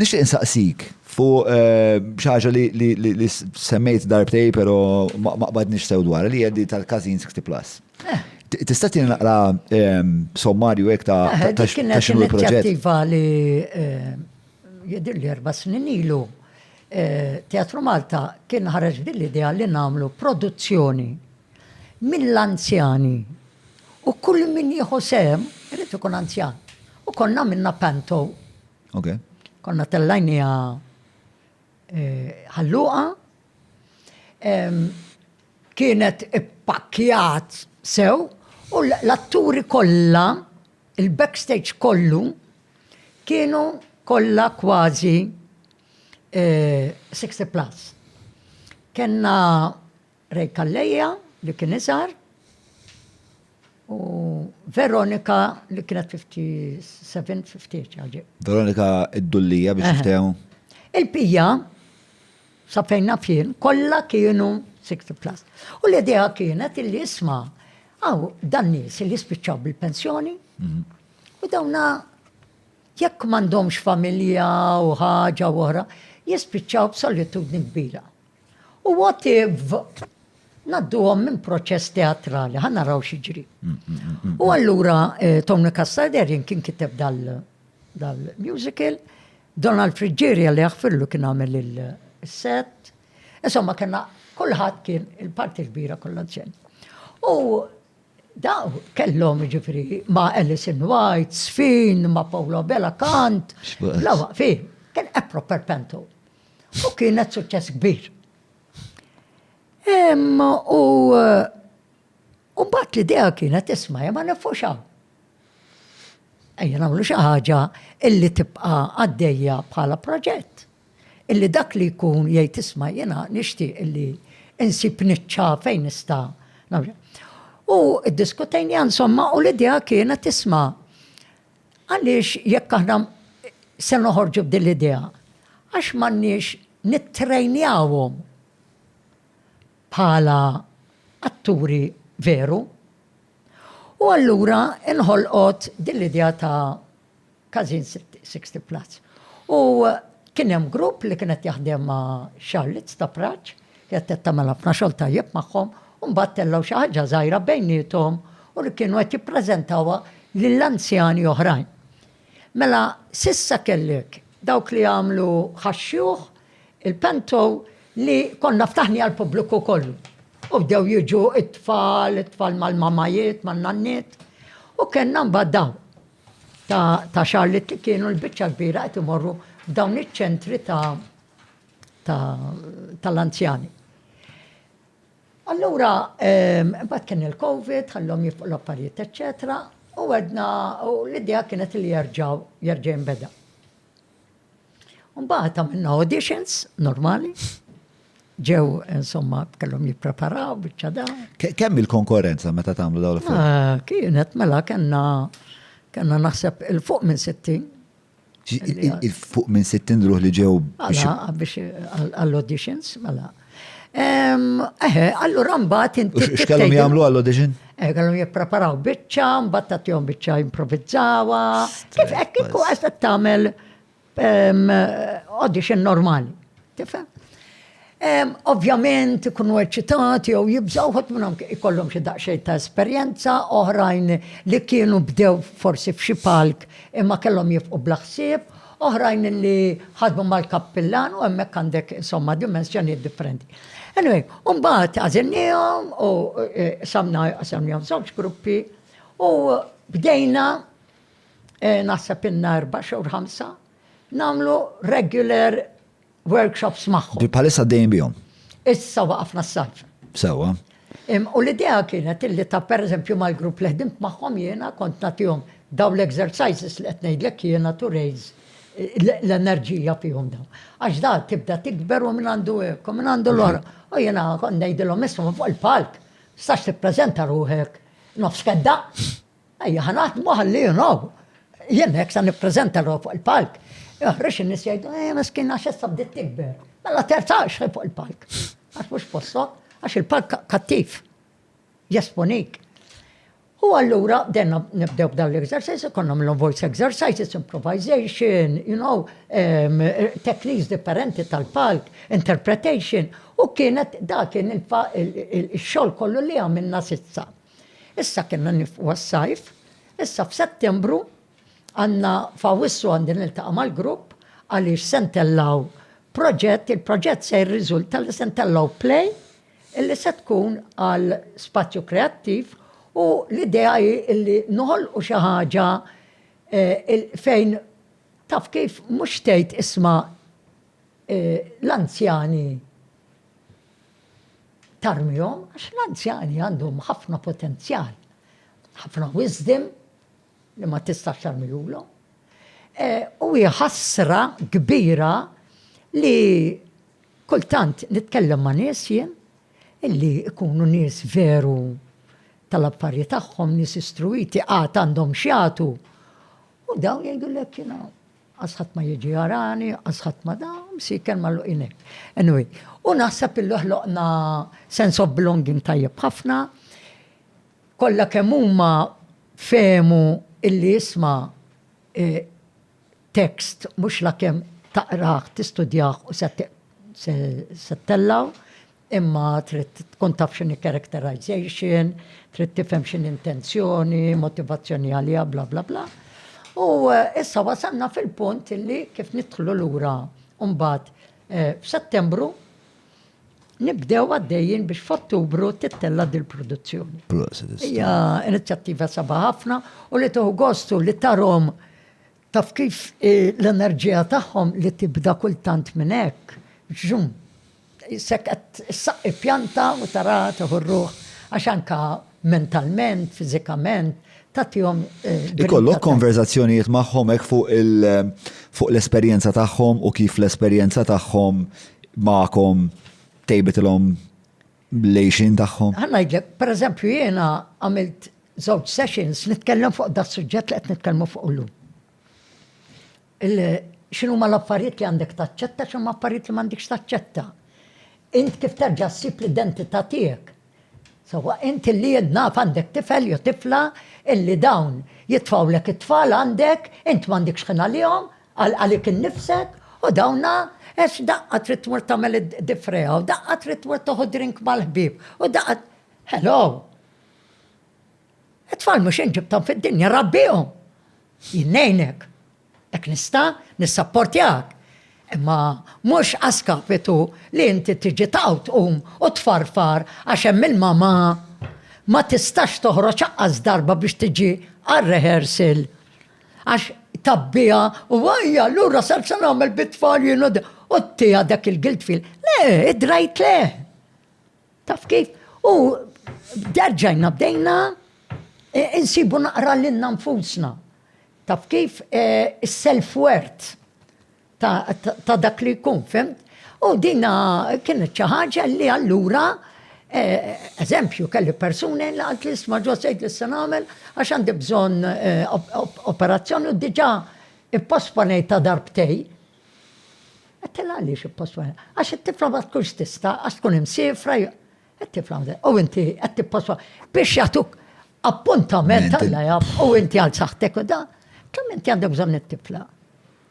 Nixtieq insaqsik fuq eh, xi ħaġa li semmejt darbtej però ma qbadniex sew dwar li jeddi tal-Każin 60 Plus. Eh. Tista' tieni naqra ehm, sommarju hekk ta' eh, ta' xinu l-proġett. Inizjattiva li jedir li erba' snin ilu Teatru Malta kien ħareġ din l-idea li nagħmlu produzzjoni mill-anzjani u kull min jieħu sem irid ikun anzjan. U konna minna panto Ok. Konna tellajnija eh, ħalluqa. Kienet ippakkjat sew u l-atturi kollha, il-backstage kollu, kienu kollha kważi 60 eh, plus. Kenna Ray Calleja li kien iżgħar u Veronika li kienet 57, 50 ġaġi. Veronika id-dullija biex niftehmu. Il-pija, sa fejn nafjen, kollha kienu 60 plus. U l-idea kienet illi isma' għaw dan nies li spiċċaw bil-pensjoni mhm. u dawna jekk m'għandhomx familja u ħaġa u oħra, jispiċċaw b'solitudni kbira. U what if nadduhom minn proċess teatrali, ħan naraw xiġri. Mm, mm, mm, u allura eh, Tony Castaderian kien kiteb dal-musical, Donald Friggeria li jaħfirlu kien għamel il-set, insomma kena kullħat kien il-parti kbira kollha ġen. U daw kellhom ġifri ma' Alison White, Sfin, ma' Paolo Bella Kant, la waqfi, kien epro perpentu. U kienet suċċess kbir. Imma u u mbagħad l-idea kienet isma' ma nifuxaw. Ejja nagħmlu xi ħaġa illi tibqa' għaddejja bħala proġett. Illi dak li jkun jgħid isma' jiena nixtieq illi insib niċċa fejn nista' U id-diskutejn insomma u l-idea kienet isma' Għaliex jekk aħna se noħorġu b'din l-idea? Għax m'għandniex nittrejnjawhom bħala atturi veru. U allura inħolqot din l-idea ta' Każin 60 Plus. U kien hemm grupp li kien qed jaħdem ma' Charlotte Stapraċ, Kienet qed tagħmel ħafna xogħol tajjeb magħhom u mbagħad tellgħu xi ħaġa żgħira bejniethom u li kienu qed jippreżentawha lil anzjani oħrajn. Mela s'issa kellek dawk li jagħmlu ħax-xjuħ, il-pentow li konna ftaħni għall-pubbliku kollu. U bdew jiġu t-tfal, it-tfal mal-mamajiet, man-nanniet. U kellna mbagħad dawn ta' xahar li kienu l-biċċa kbira qed imorru f'dawn iċ-ċentri ta' tal-anzjani. Allura, mbagħad kien il-Covid, ħallhom jifqu l-affarijiet, eċċetera, u għedna u l-idea kienet li jerġgħu jerġa' jinbeda. Mbagħad għamilna auditions normali, ġew insomma kellhom jippreparaw biċċa da. Kemm il-konkurrenza meta tagħmlu dawn l-affarijiet? Kienet mela kellna kellna naħseb il-fuq minn 60 Fuq minn 60 ruħ li ġew. Biex għall-auditions, mela. Eħe, allura mbagħad inti. X'kellhom jagħmlu għall-audition? Eh, kellhom jippreparaw biċċa, mbagħad tagħtihom biċċa improvizzawa. Kif hekk kieku qed tagħmel audition normali. Tifhem? Ovvjament ikunu eċitati jew jibżgħu ħadd minnhom ikollhom xi daqsxejn ta' esperjenza, oħrajn li kienu bdew forsi f'xi palk imma kellhom jifqu bla ħsieb, oħrajn li ħadmu mal-kappillan u hemmhekk għandek insomma dimensjonijiet differenti. Anyway, u mbagħad għażilniehom u e, samna qasamnihom żewġ gruppi u bdejna e, naħseb inna erba' xhur ħamsa nagħmlu regular workshops magħhom. Li bħalissa għaddejjin bihom. Issa waqafna s-sajf. Sewwa. U l-idea kienet illi ta' pereżempju mal-grupp li ħdimt magħhom jiena kont nagħtihom daw l-exercises li qed ngħidlek jiena to raise l-enerġija fihom daw. Għax da tibda tikber u minn għandu hekk, u minn għandu l-ora. U jiena kont ngħidilhom isma' fuq il-palk, sax tippreżenta ruħek nofs kedda. Ejja ħa naħdmu ħalli you know. Jien hekk sa nippreżenta ruħ fuq il-palk. Joħroġ in-nies jgħidu, eh miskin għax issa bdiet tikber. Mela terzaqx fuq il-palk. Għax mhux postok, għax il-palk kattiv. Jesponik. U allura denna nibdew b'dan l-exercise, konna mill voice exercises, improvisation, you know, um, techniques differenti tal-palk, interpretation, u kienet da kien il-xol kollu li għamilna sissa. Issa kellna nifqu għas-sajf, issa f'Settembru għandna f'Awwissu għandi niltaqa' mal-grupp għaliex se ntellgħu proġett, il-proġett se jirriżulta li se ntellgħu play illi se tkun għal spazju kreattiv u l-idea hi illi noħolqu xi ħaġa eh, fejn taf kif mhux tgħid isma' eh, l-anzjani tarmihom għax l-anzjani għandhom ħafna potenzjal, ħafna wisdom li ma tistax tarmihulhom. E, u hi ħasra kbira li kultant nitkellem ma' nies jien illi ikunu nies veru tal-affarijiet tagħhom, nies istruiti għad għandhom xjatu. U dawn jgħidu l-ek Qas ħadd ma jiġi jarani, qas ħadd ma da, msieker magħluqin hekk. Anyway, u naħseb illi ħloqna sense of belonging tajjeb ħafna. Kollha kemm huma fehmu illi isma' e, tekst mhux la kemm taqrah, tistudjah u se tellaw, Imma trid tkun taf x'inhi characterization, trid tifhem x'inhi intenzjoni, motivazzjoni għaliha, bla bla bla. U eh, issa wasalna fil-punt li kif nidħlu lura mbagħad eh, f'Settembru nibdew għaddejjin biex f'Ottubru tittella dil-produzzjoni. Hija inizjattiva sabaħ ħafna u li tuħu gostu li tarom Taf kif l-enerġija tagħhom li tibda kultant minn hekk, ġġum, issek qed issaqqi pjanta u taraha tieħu r-ruħ għax anke mentalment, fiżikament, tagħtihom. Ikollok konverżazzjonijiet magħhom hekk fuq l-esperjenza tagħhom u kif l-esperjenza tagħhom magħkom tejbitilhom bl-għejxin tagħhom. Ħa ngħidlek, pereżempju jiena għamilt żewġ sessions nitkellem fuq da suġġett li qed nitkellmu fuq illum. X'inhu ma l-affarijiet li għandek taċċetta, x'inhu ma affarijiet li m'għandekx taċċetta. Int kif terġa' ssib l-identità tiegħek. Sawa int li naf għandek tifel jew tifla illi dawn jitfawlek it-tfal għandek, int m'għandekx ħin għalihom, Għal għalik innifsek u dawna għax daqqa trid tmur tagħmel id-difreja u daqqa trid tmur toħu drink mal-ħbieb u daqqa Hello! It-tfal mhux jien ġibthom fid-dinja, rabbihom! Jien ngħinek. Hekk nista' nissapportjak. Imma mhux għaskapitu li inti tiġi taqgħu tqum u tfarfar għax hemm il-mama ma tistax toħroġ aqqas darba biex tiġi għar-rehearsal Għax tabbiha u għajja, allura sar se nagħmel bit-tfal jien u tiegħek dak il-guilt feel. Le, id-drajt le. Taf kif? U derġajna bdejna e, insibu naqra lilna nfusna. Taf kif? E, is-self-worth. ta' dak li jkun, fimt? U dina kienet xi ħaġa li allura eh, eżempju kelli persuni li għalt li sma ġo sejt li se nagħmel għax għandi bżonn eh, operazzjoni u diġà ipposponejt ta' darbtej. Għattila għaliex ipposponejt. Għax it-tifla ma tkunx tista, għax tkun imsifra, it-tifla ma U inti qed tipposponejt. Biex jagħtuk appuntament għalla jaf u inti għal saħtek u da, kemm inti għandek bżonn it-tifla.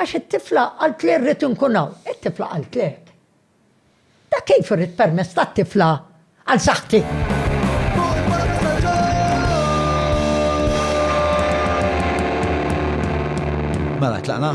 Għax it-tifla qalt li rrid inkun hawn. It-tifla qaltlek. Dak kif irrid permess tat-tifla għal saħħti? Mela tlaqna?